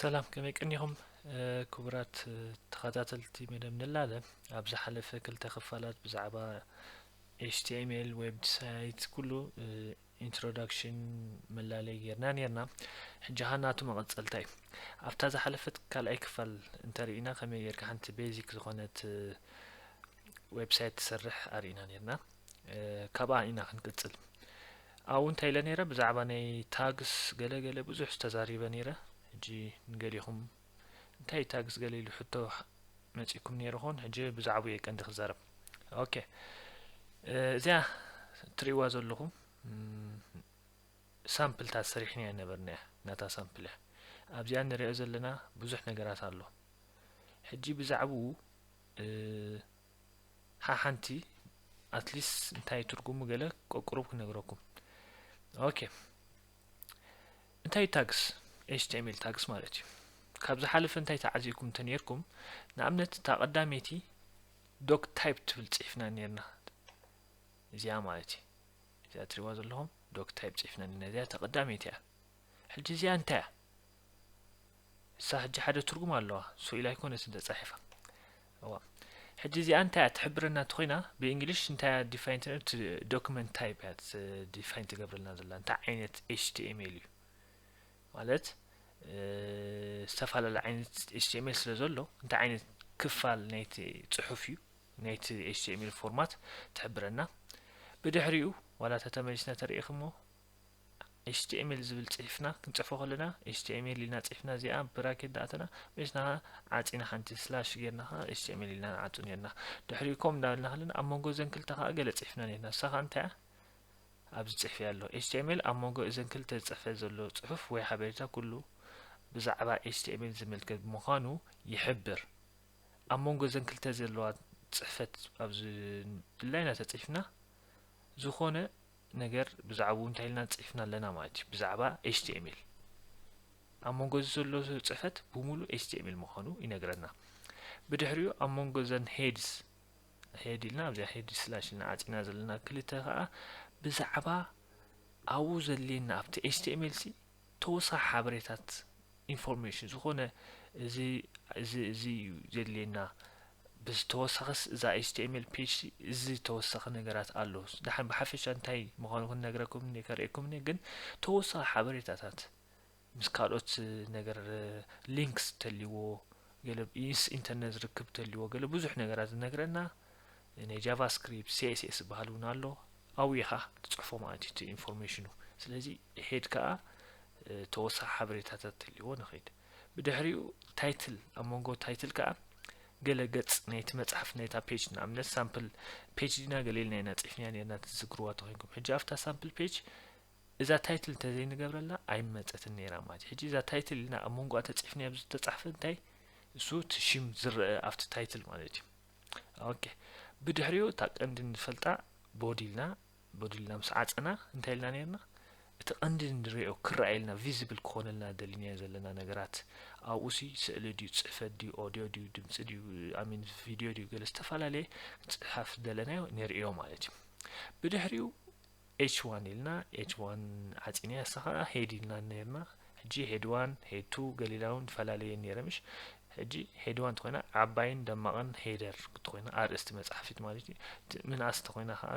ሰላም ከመይ ቀኒኹም ክቡራት ተኸታተልቲ መደብ ንላለ ኣብ ዝሓለፈ ክልተ ክፋላት ብዛዕባ ኤችቲኤምኤል ዌብሳይት ኩሉ ኢንትሮዳክሽን መላለይ ጌርና ነርና ሕጂ ኸ ናቱ መቐፀልታ እዩ ኣብታ ዝሓለፈት ካልኣይ ክፋል እንተርኢና ከመይ ጌርካ ሓንቲ ቤዚክ ዝኾነት ዌብሳይት ትሰርሕ ኣርኢና ነርና ካብኣ ኢና ክንቅፅል ኣብኡ እንታይ ኢለ ነይረ ብዛዕባ ናይ ታግስ ገለ ገለ ብዙሕ ተዛሪበ ነይረ ሕጂ ንገሊኹም እንታይ እዩ ታግስ ገለ ኢሉ ሕቶ መጺኩም ነይሩ ኾን ሕጂ ብዛዕባኡ እየ ቀንዲ ክዛረብ ኦኬ እዚያ ትርእይዋ ዘለኹም ሳምፕልታት ሰሪሕና እያ ነበርና እያ ናታ ሳምፕል እያ ኣብዚኣ ንሪኦ ዘለና ብዙሕ ነገራት ኣሎ ሕጂ ብዛዕባኡ ሓሓንቲ ኣትሊስ እንታይ ትርጉሙ ገለ ቀቁሩብ ክነግረኩም ኦኬ እንታይ ታግስ ኤችቲኤምኤል ታግስ ማለት እዩ ካብ ዝሓለፈ እንታይ ተዓዚብኩም እንተነርኩም ንኣብነት እታ ቀዳመይቲ ዶክ ታይፕ ትብል ጽሒፍና ነርና እዚኣ ማለት እዩ እዚኣ ትሪዋ ዘለኹም ዶክ ታይፕ ጽሒፍና ነርና እዚኣ ተቀዳመይቲ እያ ሕጂ እዚኣ እንታይ እያ እሳ ሕጂ ሓደ ትርጉም ኣለዋ ሶኢላ ኣይኮነትን ተጻሒፋ እዋ ሕጂ እዚኣ እንታይ እያ ትሕብረና እንተኾይና ብእንግሊሽ እንታይ እያ ዲፋይን ትነር እቲ ዶክመንት ታይፕ እያ ዲፋይን ትገብረልና ዘላ እንታይ ዓይነት ኤችቲኤምኤል እዩ ማለት ዝተፈላለየ ዓይነት ኤችቲኤምኤል ስለ ዘሎ እንታይ ዓይነት ክፋል ናይቲ ፅሑፍ እዩ ናይቲ ኤችቲኤምኤል ፎርማት ትሕብረና ብድሕሪኡ ዋላ ተተመሊስና ተርእኽሞ html ዝብል ጺሒፍና ክንጽሕፎ ከለና html ኢልና ጺሒፍና እዚኣ ብራኬት ዳኣተና ምስና ዓጺና ሓንቲ ስላሽ ጌርና ከኣ html ኢልና ንዓጹ ኔርና ድሕሪኡ ኮም እንዳበልና ከለና ኣብ መንጎ እዘን ክልተ ከኣ ገለ ጺሒፍና ኔርና እሳ ከኣ እንታይ ኣብዚ ጽሕፊ ኣሎ html ኣብ መንጎ እዘን ክልተ ዝጽሕፈ ዘሎ ጽሑፍ ወይ ሓበሬታ ኩሉ ብዛዕባ html ዝምልከት ብምዃኑ ይሕብር ኣብ መንጎ እዘን ክልተ ዘለዋ ጽሕፈት ኣብዚ ድላይና ተጽሒፍና ዝኾነ ነገር ብዛዕብኡ እንታይ ኢልና ጽሒፍና ኣለና ማለት እዩ ብዛዕባ ኤችቲኤምኤል ኣብ መንጎ እዚ ዘሎ ጽሕፈት ብምሉእ ኤችቲኤምኤል ምዃኑ ይነግረና ብድሕሪኡ ኣብ መንጎ ዘን ሄድስ ሄድ ኢልና ኣብዚኣ ሄድ ስላሽ ኢልና ዓጺና ዘለና ክልተ ከዓ ብዛዕባ ኣብኡ ዘድልየና ኣብቲ ኤችቲኤምኤል ሲ ተወሳኺ ሓበሬታት ኢንፎርሜሽን ዝኾነ እዚ እዚ እዚ እዩ ዘድልየና ብዚ ተወሳኺስ እዛ ኤችቲኤምኤል ፔጅ እዚ ተወሳኺ ነገራት ኣሎ ድሓን ብሓፈሻ እንታይ ምዃኑ ክንነግረኩም እኔ ከርእየኩም እኔ ግን ተወሳኺ ሓበሬታታት ምስ ካልኦት ነገር ሊንክስ ተልዎ ገለ ምስ ኢንተርነት ዝርክብ ተልዎ ገለ ብዙሕ ነገራት ዝነግረና ናይ ጃቫስክሪፕት ሲኤስኤስ ዝበሃል እውን ኣሎ ኣብኡ ኢኻ ትፅሕፎ ማለት እዩ ኢንፎርሜሽኑ ስለዚ ድሒድ ከኣ ተወሳኺ ሓበሬታ ተትህልዎ ንኺድ። ብድሕሪኡ ታይትል ኣብ መንጎ ታይትል ከኣ ገለ ገጽ ናይቲ መጽሓፍ ናይታ ፔጅ ንኣብነት ሳምፕል ፔጅ ዲና ገለ ኢልና ኢና ጽሒፍና ኔርና ትዝግርዋ ተኮንኩም ሕጂ ኣብታ ሳምፕል ፔጅ እዛ ታይትል እንተዘይንገብረላ ኣይመጸትን ነይራ ማለት እዩ ሕጂ እዛ ታይትል ኢልና ኣብ መንጎኣ ተጽሒፍና ኣብዚ ዝተጻሕፈ እንታይ እሱ እቲ ሽም ዝረአ ኣብቲ ታይትል ማለት እዩ ኦኬ ብድሕሪኡ እታ ቀንዲ ንፈልጣ ቦዲ ኢልና በዱልና ምስ ዓጸና እንታይ ኢልና ነርና እቲ ቀንዲ ንሪኦ ክረኣየልና ቪዚብል ክኾነልና ደሊናዮ ዘለና ነገራት ኣብኡሲ ስእሊ ድዩ ጽሕፈት ድዩ ኦድዮ ድዩ ድምጺ ድዩ ኣሚን ቪድዮ ድዩ ገለ ዝተፈላለየ ጽሓፍ ዝደለናዮ ንርእዮ ማለት እዩ ብድሕሪኡ ኤች ዋን ኢልና ኤች ዋን ዓጺና ያሳ ከዓ ሄድ ኢልና ነርና ሕጂ ሄድ ዋን ሄድ ቱ ገሊላውን ፈላለየ ነረ ምሽ ሕጂ ሄድዋ እንተኾይና ዓባይን ደማቕን ሄደር እንተኾይና ኣርእስቲ መጽሓፊት ማለት እዩ ምንኣስ እንተኾይና ከዓ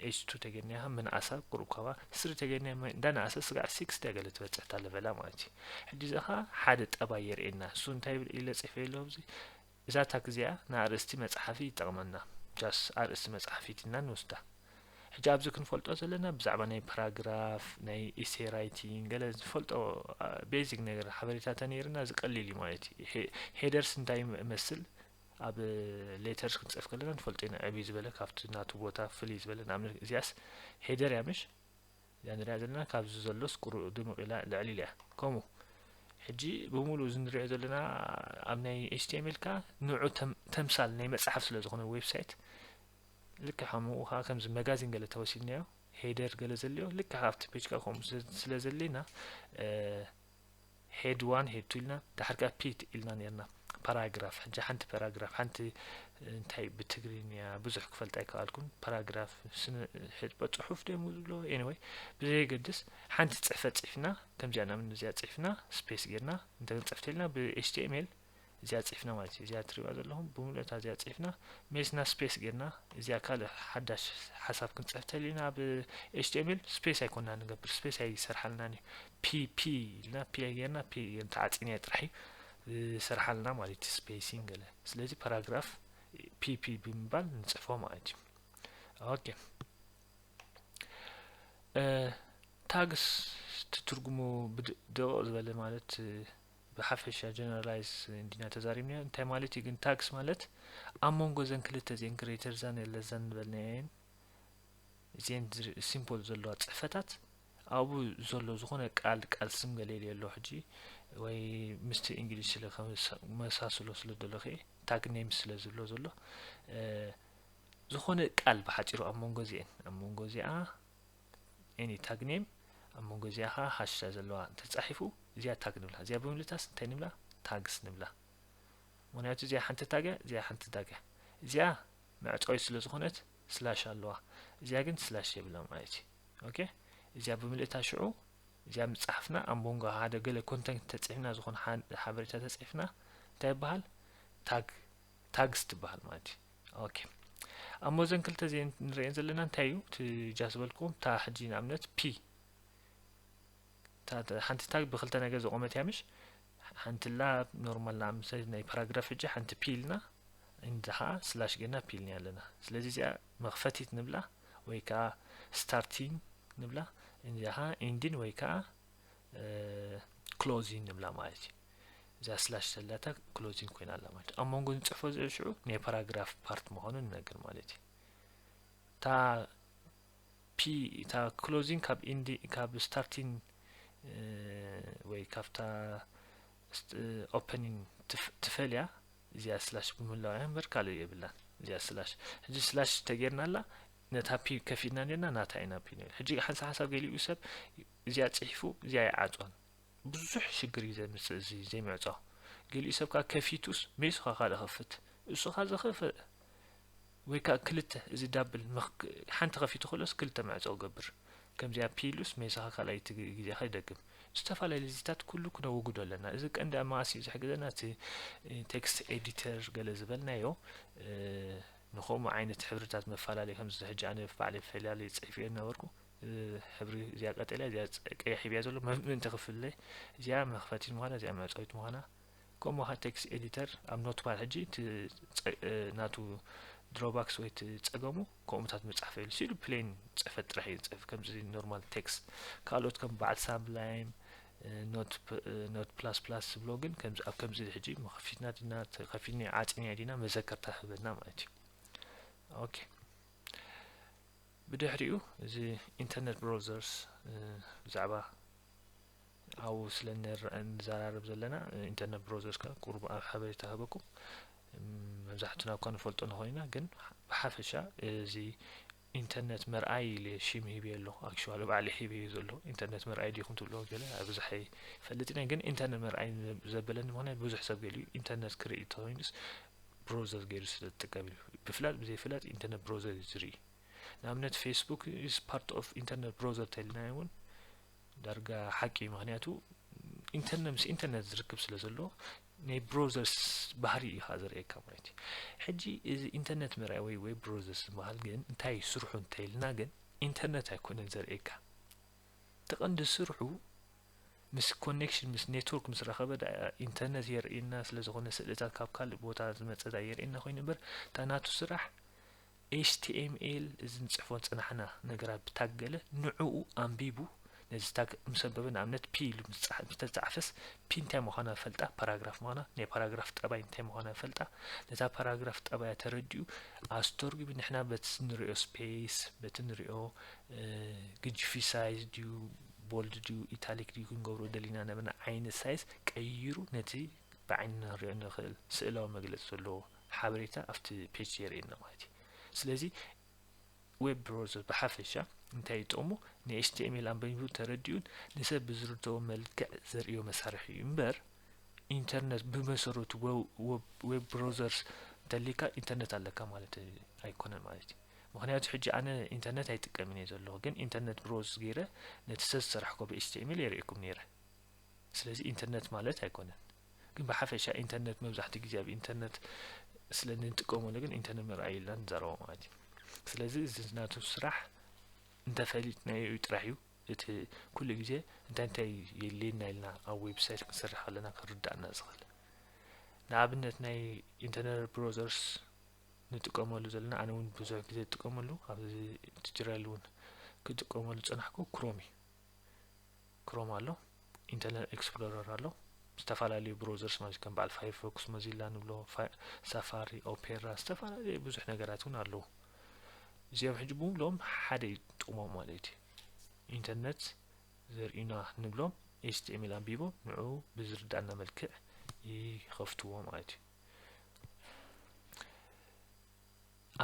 ኤች ቱ ተገድናያ ምንኣሳ ቁሩብ ካባ ስሪ ተገድናያ እንዳነኣሰ ስጋዕ ሲክስ ድያ ገለ ትበጽሕ እታ ለቨላ ማለት እዩ ሕጂ እዚ ከዓ ሓደ ጠባይ የርእየና እሱ እንታይ ብል ኢለ ጽፌ ኣለዎ ኣብዚ እዛ ታክ እዚኣ ንኣርእስቲ መጽሓፊ ይጠቕመና ጃስ ኣርእስቲ መጽሓፊት ኢና ንወስዳ ሕጂ ኣብዚ ክንፈልጦ ዘለና ብዛዕባ ናይ ፕራግራፍ ናይ ኢሴ ራይቲንግ ገለ ዝፈልጦ ቤዚክ ነገር ሓበሬታ ተነይርና እዚ ቀሊል እዩ ማለት እዩ ሄደርስ እንታይ ይመስል ኣብ ሌተርስ ክንጽፍ ከለና ንፈልጦ ኢና ዕብይ ዝበለ ካብቲ ናቱ ቦታ ፍልይ ዝበለ ንኣብነት እዚኣስ ሄደር እያ ምሽ እዚኣ ንሪኣ ዘለና ካብዚ ዘሎስ ቁሩ ድምቕ ኢላ ልዕሊ ኢላ እያ ከምኡ ሕጂ ብምሉእ እዚ ንሪኦ ዘለና ኣብ ናይ ኤችቲኤምኤል ከዓ ንዑ ተምሳል ናይ መፅሓፍ ስለ ዝኾነ ዌብሳይት ልክዕ ከሙኡ ከኣ ከምዚ መጋዚን ገለ ተወሲድናዮ ሄደር ገለ ዘልዮ ልክዕ ከኣ ኣብቲ ፔጅ ከኣ ከምኡ ስለ ዘሌና ሄድ ዋን ሄድ ቱ ኢልና ድሓር ከኣ ፒት ኢልና ኔርና ፓራግራፍ ሕጂ ሓንቲ ፓራግራፍ ሓንቲ እንታይ ብትግርኛ ብዙሕ ክፈልጥ ኣይከኣልኩን ፓራግራፍ ሕጥበ ጽሑፍ ደሞ ዝብሎ ኤኒወይ ብዘየገድስ ሓንቲ ጽሕፈት ጽሕፍና ከምዚኣ ናምን እዚኣ ጽሕፍና ስፔስ ጌርና እንተ ክንጽሕፍ ተልና ብኤችቲኤምኤል እዚኣ ጽሕፍና ማለት እዩ እዚኣ ትሪእዋ ዘለኹም ብምልእታ እዚኣ ጽሕፍና ሜስና ስፔስ ጌርና እዚኣ ካልእ ሓዳሽ ሓሳብ ክንጽሕፍ ተሊና ኣብ ኤችቲኤምኤል ስፔስ ኣይኮና ንገብር ስፔስ ኣይሰርሓልናን እዩ ፒ ፒ ኢልና ፒ ጌርና ፒ ተዓጺንያ ጥራሕ እዩ ዝሰርሓልና ማለት እዩ ስፔሲን ገለ ስለዚ ፓራግራፍ ፒ ፒ ብምባል ንጽሕፎ ማለት እዩ ኦኬ ታግስ ትትርጉሙ ብደቕ ዝበለ ማለት ብሓፈሻ ጀነራላይዝ እንዲና ተዛሪብናዮ እንታይ ማለት እዩ ግን ታግስ ማለት ኣብ መንጎ ዘን ክልተ እዚኤን ግሬተር ዛን የለዛን ዝበልናየን እዚኤን ሲምፖል ዘለዋ ፅሕፈታት ኣብኡ ዘሎ ዝኾነ ቃል ቃል ስም ገሌልዮ ኣሎ ሕጂ ወይ ምስቲ እንግሊዝ ስለ መሳስሎ ስለ ደለኸ ታግ ኔም ስለ ዝብሎ ዘሎ ዝኾነ ቃል ብሓፂሩ ኣብ መንጎ እዚኤን ኣብ መንጎ እዚኣ ኤኒ ታግ ኔም ኣብ መንጎ እዚኣ ከዓ ሃሽታ ዘለዋ እንተተፃሒፉ እዚኣ ታግ ንብላ እዚኣ ብምልታስ እንታይ ንብላ ታግስ ንብላ ምክንያቱ እዚኣ ሓንቲ ታግ እያ እዚኣ ሓንቲ ታግ እያ እዚኣ መዕፀዊት ስለ ዝኾነት ስላሽ ኣለዋ እዚኣ ግን ስላሽ የብላ ማለት እዩ ኦኬ እዚኣ ብምልእታ ሽዑ እዚኣ ምፅሓፍና ኣብ መንጎ ሓደ ገለ ኮንተንት ተፅሒፍና ዝኾነ ሓበሬታ ተፅሒፍና እንታይ ይበሃል ታግ ታግስ ትበሃል ማለት እዩ ኦኬ ኣሞ እዘን ክልተ እዚኤን ንሪኤን ዘለና እንታይ እዩ እቲ ጃ ዝበልኩም እታ ሕጂ ንኣብነት ፒ ሓንቲ ታግ ብክልተ ነገር ዝቆመት እያ ምሽ ሓንቲ ላ ኖርማል ንኣምሰ ናይ ፓራግራፍ ሕጂ ሓንቲ ፒ ኢልና እንዲ ከዓ ስላሽ ገና ፒ ኢልና ኣለና ስለዚ እዚኣ መክፈቲት ንብላ ወይ ከዓ ስታርቲንግ ንብላ እንዲያ ከዓ ኢንዲን ወይ ከዓ ክሎዚን ንብላ ማለት እዩ እዛ ስላሽ ዘላታ ክሎዚን ኮይና ኣላ ማለት ኣብ መንጎ ንፅሕፎ ዝኦ ሽዑ ናይ ፓራግራፍ ፓርት ምዃኑ ንነግር ማለት እዩ እታ ፒ እታ ክሎዚን ካብ ኢንዲ ካብ ስታርቲን ወይ ካብታ ኦፐኒን ትፈልያ እዚኣ ስላሽ ብምህላው እያ እምበር ካልእ የብላን እዚኣ ስላሽ ሕጂ ስላሽ ተገይርና ኣላ ነታ ፒግ ከፊትና ኔርና ናታ ኢና ፒግ ነይሩ ሕጂ ሓንሳ ሓንሳ ገሊኡ ሰብ እዚኣ ጽሒፉ እዚኣ ይዓጾን ብዙሕ ሽግር እዩ ዘምጽእ እዚ ዘይምዕጾ ገሊኡ ሰብ ከዓ ከፊቱስ ሜሱኻ ካልእ ክፍት እሱኻ ዝኽፍ ወይ ከዓ ክልተ እዚ ዳብል ሓንቲ ከፊቱ ከሎስ ክልተ መዕጾ ገብር ከምዚኣ ፒሉስ ሜሱኻ ካልኣይቲ ግዜ ከይደግም ዝተፈላለዩ ልዚታት ኩሉ ክነወግዶ ኣለና እዚ ቀንዲ ኣብ መኣስ እዩ ዝሕግዘና እቲ ቴክስት ኤዲተር ገለ ዝበልናዮ ንከምኡ ዓይነት ሕብርታት መፋላለይ ከምዚ ሕጂ ኣነ ባዕለይ ፈላለይ ጽሒፈዮ ዝነበርኩ ሕብሪ እዚኣ ቀጠልያ እዚኣ ቀያሕ ሂብያ ዘሎ ምእንቲ ክፍለ እዚኣ መኽፈቲት ምዃና እዚኣ መዕጸዊት ምዃና ከምኡ ኸ ቴክስት ኤዲተር ኣብ ኖትፓድ ሕጂ እቲ ናቱ ድሮባክስ ወይ እቲ ጸገሙ ከምኡታት መጽሓፍ የሉ ሲሉ ፕሌን ጽሕፈት ጥራሕ እዩ ዝጽሕፍ ከምዚ ኖርማል ቴክስት ካልኦት ከም በዓል ሳብላይም ኖት ፕላስ ፕላስ ዝብሎ ግን ከምዚ ኣብ ከምዚ ሕጂ መኸፊትና ድና ተኸፊኒ ዓጽንያ ዲና መዘከርታ ህበና ማለት እዩ ኦኬ ብድሕሪኡ እዚ ኢንተርነት ብሮዘርስ ብዛዕባ ኣብኡ ስለ ንዘራረብ ዘለና ኢንተርነት ብሮዘርስ ከ ቁሩብ ኣብ ሓበሬታ ሃበኩም መብዛሕትና እኳ ንፈልጦ ንኾይና ግን ብሓፈሻ እዚ ኢንተርነት መርኣይ ኢለ ሽም ሂበዮ ኣለኩ ኣክሽዋሊ ባዕለይ ሂበዮ ዘለኩ ኢንተርነት መርኣይ ዲኩም ትብልዎ ገለ ኣብዝሕ ኣይፈልጥን እየ ግን ኢንተርነት መርኣይ ዘበለኒ ምክንያት ብዙሕ ሰብ ገሊኡ ኢንተርነት ክርኢ እንተኮይኑስ ብሮዘር ገይሩ ስለ ዝጥቀም እዩ ብፍላጥ ብዘይፍላጥ ኢንተርነት ብሮዘር እዩ ዝርኢ ንኣብነት ፌስቡክ ኢስ ፓርት ኦፍ ኢንተርነት ብሮዘር ተልናዮ እውን ዳርጋ ሓቂ እዩ ምክንያቱ ኢንተርነት ምስ ኢንተርነት ዝርክብ ስለ ዘለዎ ናይ ብሮዘርስ ባህሪ እዩ ከኣ ዘርእየካ ማለት እዩ ሕጂ እዚ ኢንተርነት ምርኣይ ወይ ወይ ብሮዘርስ ዝበሃል ግን እንታይ እዩ ስርሑ እንተይልና ግን ኢንተርነት ኣይኮነን ዘርእየካ ተቐንዲ ስርሑ ምስ ኮኔክሽን ምስ ኔትወርክ ምስ ረኸበ ኢንተርነት የርእየና ስለ ዝኾነ ስእልታት ካብ ካልእ ቦታ ዝመፀ ዳ የርእየና ኮይኑ እምበር እታ ናቱ ስራሕ html እዚ ንጽሕፎ ዝጸናሕና ነገራት ብታግ ገለ ንዕኡ ኣንቢቡ ነዚ ታግ ምስ ኣንበበ ንኣብነት ፒ ኢሉ ምስ ተጻሕፈስ ፒ እንታይ ምዃና ፈልጣ ፓራግራፍ ምዃና ናይ ፓራግራፍ ጠባይ እንታይ ምዃና ፈልጣ ነታ ፓራግራፍ ጠባያ ተረዲኡ ኣስተርጒሚ ንሕና በቲ ንሪኦ ስፔስ በቲ ንሪኦ ግጅፊ ሳይዝ ድዩ ቦልድ ድዩ ኢታሊክ ድዩ ክንገብሮ ደሊና ነበና ዓይነት ሳይዝ ቀይሩ ነቲ ብዓይንና ንሪኦ ንኽእል ስእላዊ መግለጺ ዘለዎ ሓበሬታ ኣብቲ ፔጅ የርእየና ማለት እዩ ስለዚ ዌብ ብሮዘር ብሓፈሻ እንታይ ይጠቕሙ ናይ ኤችቲኤምኤል ኣንበቢቡ ተረዲኡን ንሰብ ብዝርድኦ መልክዕ ዘርእዮ መሳርሒ እዩ እምበር ኢንተርነት ብመሰረቱ ዌብ ብሮዘርስ እንተሊካ ኢንተርነት ኣለካ ማለት ኣይኮነን ማለት እዩ ምክንያቱ ሕጂ ኣነ ኢንተርነት ኣይጥቀምን እየ ዘለኹ ግን ኢንተርነት ብሮዝ ገይረ ነቲ ሰብ ዝሰራሕኮ ብኤችቲኤምኤል የርእኩም ነይረ ስለዚ ኢንተርነት ማለት ኣይኮነን ግን ብሓፈሻ ኢንተርነት መብዛሕትኡ ግዜ ኣብ ኢንተርነት ስለ ንጥቀመሉ ግን ኢንተርነት ምርኣይ ኢልና ንዛረቦ ማለት እዩ ስለዚ እዚ ናቱ ስራሕ እንተፈሊጥናዮ እዩ ጥራሕ እዩ እቲ ኩሉ ግዜ እንታይ እንታይ የድልየና ኢልና ኣብ ዌብሳይት ክንሰርሕ ኣለና ክርዳእና ዝኽእል ንኣብነት ናይ ኢንተርነት ብሮዘርስ ንጥቀመሉ ዘለና ኣነ እውን ብዙሕ ግዜ ዝጥቀመሉ ኣብዚ ትጅራል እውን ክጥቀመሉ ፀናሕኩ ክሮም እዩ ክሮም ኣሎ ኢንተርነት ኤክስፕሎረር ኣሎ ዝተፈላለዩ ብሮዘርስ ማለት ከም በዓል ፋይርፎክስ ሞዚላ ንብሎ ሳፋሪ ኦፔራ ዝተፈላለዩ ብዙሕ ነገራት እውን ኣለዉ እዚኦም ሕጂ ብምሎም ሓደ እዩ ጥቕሞም ማለት እዩ ኢንተርነት ዘርእዩና ንብሎም ኤችቲኤምኤል ኣንቢቦም ንዑ ብዝርዳእና መልክዕ ይኸፍትዎ ማለት እዩ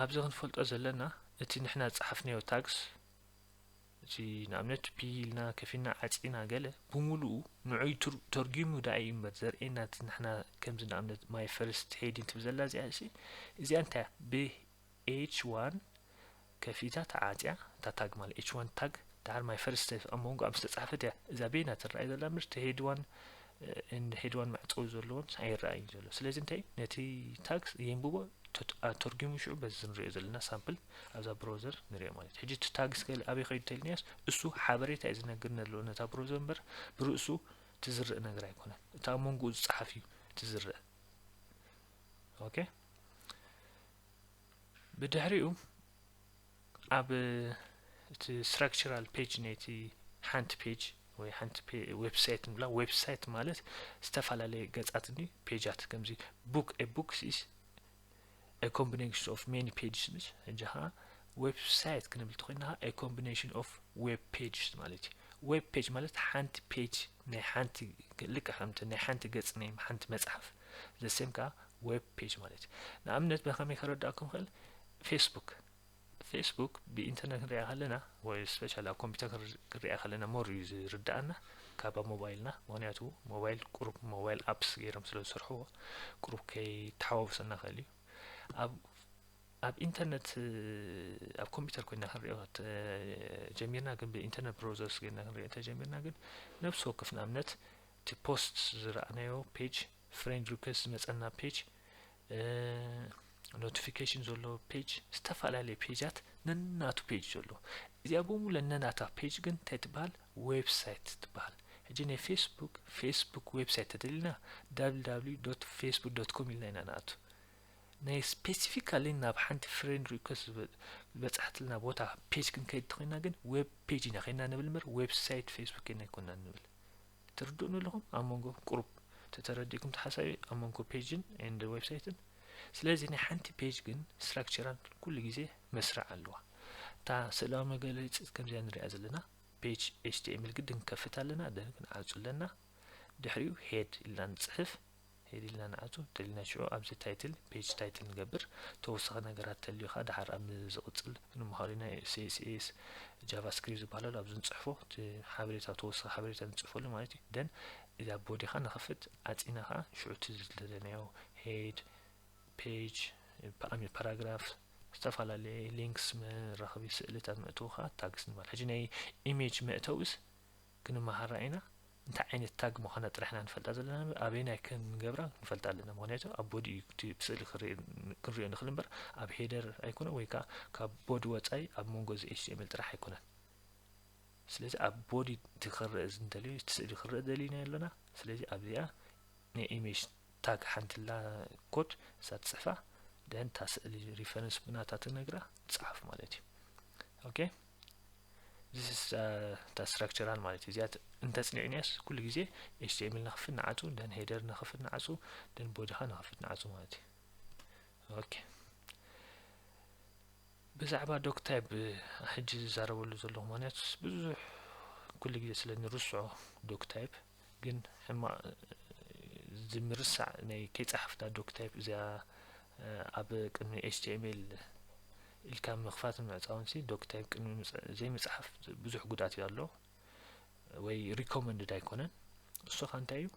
ኣብዚ ክንፈልጦ ዘለና እቲ ንሕና ዝፀሓፍናዮ ታግስ እቲ ንኣብነት ፒ ኢልና ከፊና ዓጺና ገለ ብምሉኡ ንዑይ ተርጊሙ ዳኣ እዩ እምበር ዘርእየና እቲ ንሕና ከምዚ ንኣብነት ማይ ፈርስት ሄዲን ትብል ዘላ እዚኣ እሲ እዚኣ እንታይ ብ ኤች ዋን ከፊታ ተዓጽያ እታ ታግ ማለት ኤች ዋን ታግ ድሓር ማይ ፈርስት ኣብ መንጎ ኣብ ዝተጻሕፈት እያ እዛ ቤና ትረኣይ ዘላ ምርት ሄድ ዋን እንድሒድዋን ማዕጸዊ ዘለዎን ኣይረኣይን ዘሎ ስለዚ እንታይ ነቲ ታግስ የንብቦ ኣተርጊሙ ሽዑ በዚ ንሪኦ ዘለና ሳምፕል ኣብዛ ብሮዘር ንሪኦ ማለት ሕጂ እቲ ታግስ ገለ ኣበይ ከይዱ ተልኒያስ እሱ ሓበሬታ እዩ ዝነግር ነለዎ ነታ ብሮዘር እምበር ብርእሱ ትዝርእ ነገር ኣይኮነን እቲ ኣብ መንጎኡ ዝፀሓፍ እዩ ትዝርእ ኦኬ ብድሕሪኡ ኣብ እቲ ስትራክቸራል ፔጅ ነቲ ሓንቲ ፔጅ ወይ ሓንቲ ዌብሳይት ንብላ ዌብሳይት ማለት ዝተፈላለየ ገጻት ኒ ፔጃት ከምዚ ቡክ ኤ ቡክ ሲስ ኤ ኮምቢኔሽን ኦፍ ሜኒ ፔጅስ ምስ ሕጂ ከዓ ዌብሳይት ክንብል ትኮይና ከዓ ኤ ኮምቢኔሽን ኦፍ ዌብ ፔጅስ ማለት እዩ ዌብ ፔጅ ማለት ሓንቲ ፔጅ ናይ ሓንቲ ልክ ከምቲ ናይ ሓንቲ ገጽ ናይ ሓንቲ መጽሓፍ ዘሴም ከዓ ዌብ ፔጅ ማለት እዩ ንኣብነት ብከመይ ከረዳእኩም ክእል ፌስቡክ ፌስቡክ ብኢንተርነት ክንሪኣ ከለና ወይ ስፔሻል ኣብ ኮምፒውተር ክንሪኣ ከለና ሞር እዩ ዝርዳእና ካብ ኣብ ሞባይልና ምክንያቱ ሞባይል ቁሩብ ሞባይል ኣፕስ ገይሮም ስለ ዝሰርሕዎ ቁሩብ ከይተሓዋውሰና ክእል እዩ ኣብ ኣብ ኢንተርነት ኣብ ኮምፒውተር ኮይና ክንሪኦ ጀሚርና ግን ብኢንተርነት ብሮዘርስ ገይርና ክንሪኦ ተጀሚርና ግን ነብሲ ወከፍ ንኣብነት እቲ ፖስት ዝረኣናዮ ፔጅ ፍሬንድ ሪኩዌስት ዝመፀና ፔጅ ኖቲፊኬሽን ዘሎ ፔጅ ዝተፈላለዩ ፔጃት ነናቱ ፔጅ ዘሎ እዚኣ ብሙለ ነናታ ፔጅ ግን እንታይ ትበሃል ዌብሳይት ትበሃል ሕጂ ናይ ፌስቡክ ፌስቡክ ዌብሳይት ተደሊና www ዶት ፌስቡክ ዶት ኮም ኢልና ኢና ንኣቱ ናይ ስፔሲፊካሊ ናብ ሓንቲ ፍሬንድ ሪኩስት ዝበፅሓትልና ቦታ ፔጅ ክንከይድ ተኮይና ግን ዌብ ፔጅ ኢና ኮይና ንብል ምበር ዌብሳይት ፌስቡክ ኢና ይኮና ንብል ትርድኡኒ ኣለኹም ኣብ መንጎ ቁሩብ ተተረዲእኩም ተሓሳቢ ኣብ መንጎ ፔጅን ኤንድ ዌብሳይትን ስለዚ ናይ ሓንቲ ፔጅ ግን ስትራክቸራን ኩሉ ግዜ መስርዕ ኣለዋ እታ ስእላዊ መገለፂት ከምዚያ ንሪኣ ዘለና ፔጅ ኤችቲኤምኤል ግድን ከፍት ኣለና ደን ክንዓፁ ኣለና ድሕሪኡ ሄድ ኢልና ንፅሕፍ ሄድ ኢልና ንኣቱ ደሊና ሽዑ ኣብዚ ታይትል ፔጅ ታይትል ንገብር ተወሳኺ ነገራት ተልዩ ከኣ ደሓር ኣብ ዝቕጽል ንምሃሮ ኢና css ጃቫስክሪፕት ዝበሃል ኣሎ ኣብዚ ንጽሕፎ እቲ ሓበሬታ ተወሳኺ ሓበሬታ ንጽሕፈሉ ማለት እዩ ደን እዛ ቦዲ ከኣ ንኸፍት ኣጺና ከኣ ሽዑ እቲ ዝደለናዮ ሄድ ፔጅ ፓኣሚ ፓራግራፍ ዝተፈላለየ ሊንክስ መራኸቢ ስእልታት መእተዊ ከኣ ታግስ ንበል ሕጂ ናይ ኢሜጅ መእተዊስ ክንመሃራ ኢና እንታይ ዓይነት ታግ ምዃና ጥራሕ ኢና ንፈልጣ ዘለና እምበር ኣበየናይ ከም ንገብራ ክንፈልጣ ኣለና ምክንያቱ ኣብ ቦዲ እዩ እቲ ብስእሊ ክንሪኦ ንኽእል እምበር ኣብ ሄደር ኣይኮነን ወይ ከዓ ካብ ቦዲ ወፃኢ ኣብ መንጎ እዚ ኤችቲኤምኤል ጥራሕ ኣይኮነን ስለዚ ኣብ ቦዲ እቲ ክረእ ዝንደልዮ እቲ ስእሊ ክረእ ደሊና ኣለና ስለዚ ኣብዚኣ ናይ ኢሜጅ ታግ ሓንትላ ኮድ እሳ ትጽሕፋ ደን እታ ስእሊ ሪፈረንስ ብናታ ትነግራ ትጽሓፍ ማለት እዩ ኦኬ ዚስ እታ ስትራክቸራል ማለት እዩ እዚኣ እንተጽኒዕንያስ ኩሉ ግዜ ኤችቲኤምል ንክፍት ንዓጹ ደን ሄደር ንክፍት ንዓጹ ደን ቦዲኻ ንክፍት ንዓጹ ማለት እዩ ኦኬ ብዛዕባ ዶክ ታይፕ ሕጂ ዝዛረበሉ ዘለኹ ምክንያት ብዙሕ ኩሉ ግዜ ስለ ንርስዖ ዶክ ታይፕ ግን ሕማቅ እዚ ምርሳዕ ናይ ከይጸሓፍና ዶክ ታይፕ እዚኣ ኣብ ቅድሚ ኤችቲኤምኤል ኢልካ ምኽፋትን ምዕጻውን ሲ ዶክ ታይፕ ቅድሚ ዘይምጽሓፍ ብዙሕ ጉድኣት እዩ ኣሎ ወይ ሪኮመንድድ ኣይኮነን እሱ ካ እንታይ እዩ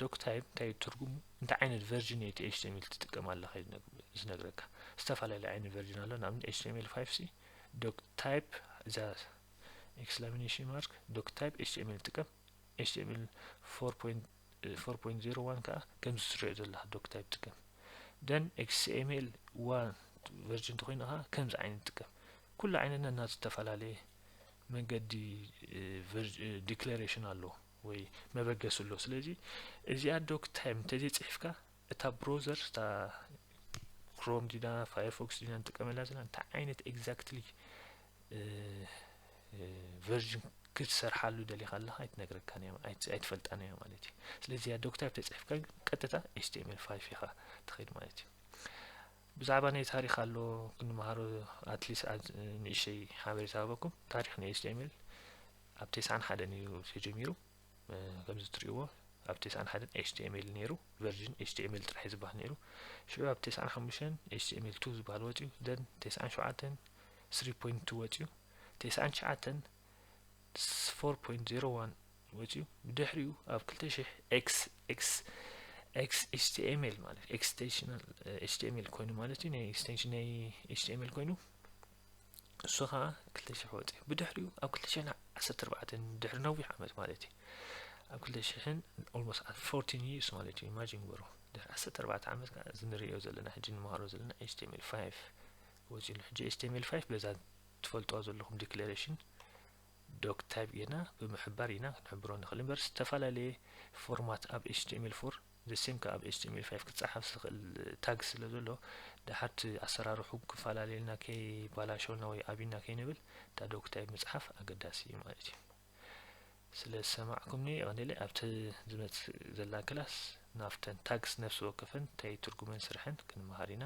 ዶክ ታይፕ እንታይ እዩ ትርጉሙ እንታይ ዓይነት ቨርዥን እቲ ኤችቲኤምኤል ትጥቀም ኣለካ እዩ ዝነግረካ ዝተፈላለዩ ዓይነት ቨርዥን ኣሎ ንኣብነት ኤችቲኤምኤል ፋይቭ ሲ ዶክ ታይፕ እዛ ኤክስላሚኔሽን ማርክ ዶክ ታይፕ ኤችቲኤምኤል ጥቀም ኤችቲኤምኤል ፎር ፖይንት ፎር ፖይንት ዜሮ ዋን ከዓ ከምዚ ትሪኦ ዘለካ ዶክ ታይፕ ጥቀም ደን ኤክስኤምኤል ዋን ቨርጅን እንተኮይኑ ከዓ ከምዚ ዓይነት ጥቀም ኩሉ ዓይነት ነናቱ ዝተፈላለየ መንገዲ ዲክሌሬሽን ኣለዎ ወይ መበገሲ ኣለዎ ስለዚ እዚኣ ዶክ ታይም እንተዘይፅሒፍካ እታ ብሮዘር እታ ክሮም ዲና ፋየርፎክስ ዲና ንጥቀመላ ዘለና እንታይ ዓይነት ኤግዛክትሊ ቨርዥን ክትሰርሓሉ ደሊኻ ኣለኻ ኣይትነግረካን እያ ኣይትፈልጣን እያ ማለት እዩ ስለዚ ያ ዶክታይፕ ተፅሒፍካ ግን ቀጥታ ኤችቲኤምኤል ፋይፍ ኢኻ ትኸይድ ማለት እዩ ብዛዕባ ናይ ታሪክ ኣሎ ክንመሃሮ ኣትሊስ ንእሸይ ሓበሬታ ሃበኩም ታሪክ ናይ ኤችቲኤምኤል ኣብ ቴስዓን ሓደን እዩ ተጀሚሩ ከምዚ ትርእይዎ ኣብ ቴስዓን ሓደን ኤችቲኤምኤል ነይሩ ቨርዥን ኤችቲኤምኤል ጥራሕ እዩ ዝበሃል ነይሩ ሽዑ ኣብ ቴስዓን ሓሙሽተን ኤችቲኤምኤል ቱ ዝበሃል ወፅዩ ደን ቴስዓን ሸውዓተን ስሪ ፖይንት ቱ ወፅዩ ቴስዓን ትሽዓተን ፎር ፖይንት ዜሮ ዋን ወፅዩ ብድሕሪኡ ኣብ ክልተ ሽሕ ኤክስ ኤክስ ኤክስ ኤችቲኤምኤል ማለት ኤክስቴንሽናል ኤችቲኤምኤል ኮይኑ ማለት እዩ ናይ ኤክስቴንሽን ናይ ኤችቲኤምኤል ኮይኑ እሱ ኸዓ ክልተ ሽሕ ወፀ ብድሕሪኡ ኣብ ክልተ ሽሕን ዓሰርተ ኣርባዕተን ድሕሪ ነዊሕ ዓመት ማለት እዩ ኣብ ክልተ ሽሕን ኦልሞስት ኣብ ፎርቲን ይርስ ማለት እዩ ኢማጂን ግበሩ ድሕሪ ዓሰርተ ኣርባዕተ ዓመት ከዓ እዚ ንሪኦ ዘለና ሕጂ ንመሃሮ ዘለና ኤችቲኤምኤል ፋይቭ ወፂሉ ሕጂ ኤችቲኤምኤል ፋይቭ በዛ ትፈልጥዋ ዘለኹም ዲክሌሬሽን ዶክ ታይፕ ጌርና ብምሕባር ኢና ክንሕብሮ ንኽእል እምበር ዝተፈላለየ ፎርማት ኣብ ኤችቲኤምኤል ፎር The same ከኣ ኣብ HTML ፋይፍ ክጸሓፍ ዝኽእል ታግ ስለ ዘሎ ደሓር እቲ ኣሰራርሑ ክፈላለየልና ከይባላሸወና ወይ ኣቢና ከይንብል እታ ዶክታይፕ ምጽሓፍ ኣገዳሲ እዩ ማለት እዩ። ስለ ዝሰማዕኩምኒ የቐንየለይ። ኣብቲ ዝመጽእ ዘላ ክላስ ናብተን ታግስ ነፍሲ ወከፈን እንታይ ትርጉመን ስርሐን ክንመሃር ኢና።